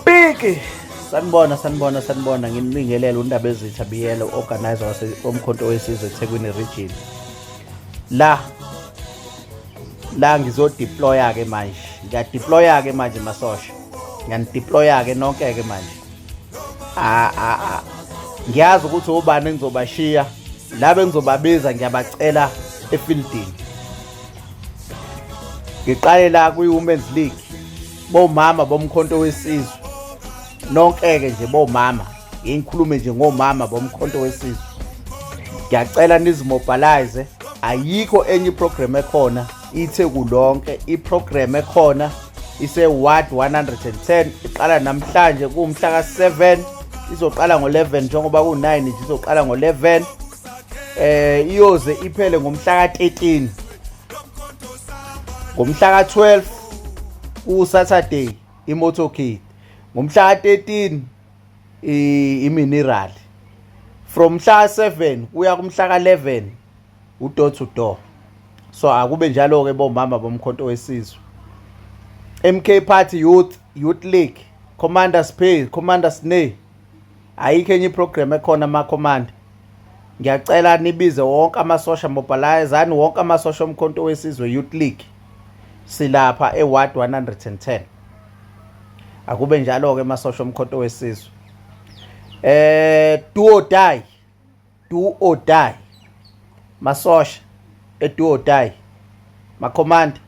Piki sanibona sanibona sanibona ngimlingelela undaba ezitha biyele organizer wase omkhonto wesizwe eThekwini region la la ngizodeploya ke manje ngiyadeploya ke manje masosha ngiyanideploya ke nonke ke manje a a a ngiyazi ukuthi ubani engizobashiya laba engizobabiza ngiyabacela efieldini ngiqale la kwi-women's league bomama bomkhonto wesizwe nonke-ke nje bomama ngikhulume nje ngomama bomkhonto wesizwe ngiyacela nizimobilize ayikho enye iprogram ekhona ithe kulonke iprogram ekhona ise-ward 110 iqala namhlanje kuwumhla ka-7 izoqala ngo-11 njengoba ku-9 nje izoqala ngo-11 eh iyoze iphele ngomhla ka 13 ngomhla ka 12 ku Saturday imotorcade ngomhla ka 13 imineral from mhla 7 kuya kumhla ka 11 udoor to door so akube njalo ke bomama bomkhonto wesizwe MK Party Youth Youth League Commander Space Commander Snay ayikho enye iprogram ekhona makhomanda ngiyacela nibize wonke amasosha mobilizani wonke amasosha omkhonto wesizwe youth league silapha eward 110 akube njalo-ke amasosha omkhonto wesizwe eh duo die do or die masosha e do or die ma command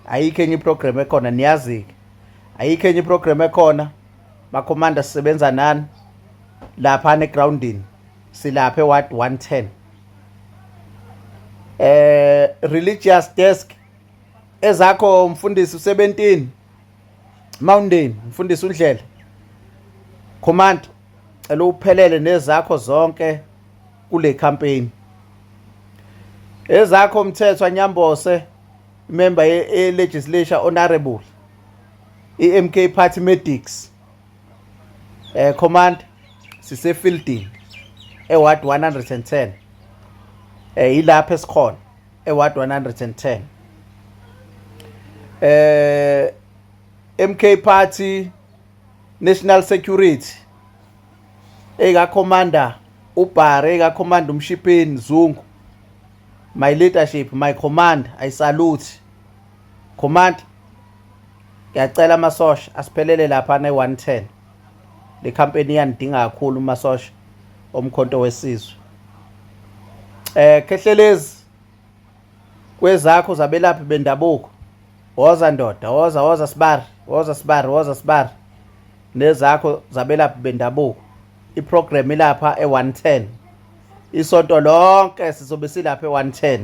ayikho enye iprogram ekhona niyazi ke ayikho enye iprogram ekhona ma commander sisebenza nani lapha ne groundini silapha eward 110 eh religious desk ezakho mfundisi u17 mountain mfundisi undlela command cela uphelele nezakho zonke kule campaign ezakho mthetho anyambose member ye legislature honorable iMK party medics eh command sise fielding e ward 110 eh ilapha esikhona e ward 110 eh MK party National Security eka commander uBhare eka commander uMshipeni Zungu my leadership my command i salute command ngiyacela amasosha asiphelele lapha ne 110 le company iyandinga kakhulu umasosha omkhonto wesizwe eh khehlelezi kwezakho zabelaphi bendabuko woza ndoda woza woza sibari woza sibari woza sibari nezakho zabelaphi bendabuko iprogram ilapha e110 isonto lonke sizobe silapha e110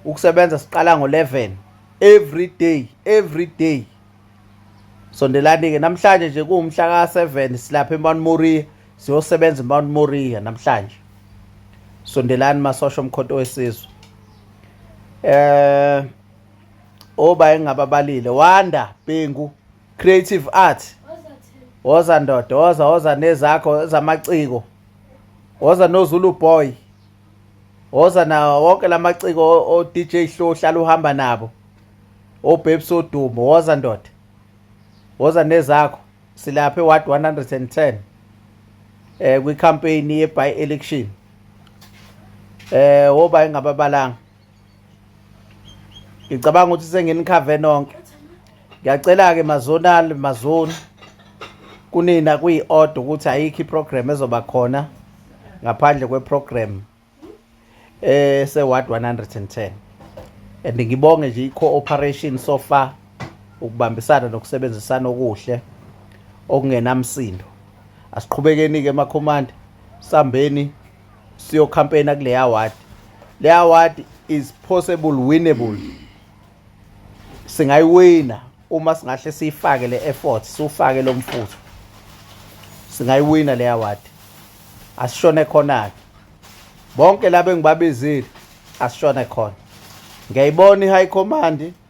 ukusebenza siqala ngo11 every day every day sondelani ke namhlanje nje kuwumhla ka7 silapha eMount Moriah siyosebenza eMount Moriah namhlanje sondelani masosha omkhonto wesizwe eh oba engababalile wanda bhengu creative art woza ndoda woza woza nezakho ezamaciko woza nozulu boy woza nawo wonke la maciko o-dj hlo hlala uhamba nabo obabes odumo woza ndoda woza nezakho silapha e-ward 110 um eh, kwikhampeyini ye-by election um eh, woba engababalanga ngicabanga ukuthi senginikhave nonke ngiyacela-ke mazonal mazoni kunina kuyi-oda ukuthi ayikho iprogram ezoba khona ngaphandle kweprogram ese-ward 110 and ngibonge nje i-cooperation so far ukubambisana nokusebenzisana okuhle okungenamsindo asiqhubekeni-ke emakhomanda sambeni siyokhampeyina kule award le award is possible winnable singayiwina uma singahle siyifake le effort siwufake lo mfutho singayiwina le award asishone khona-ke bonke laba engibabizile asishone khona ngiyayibona i-high command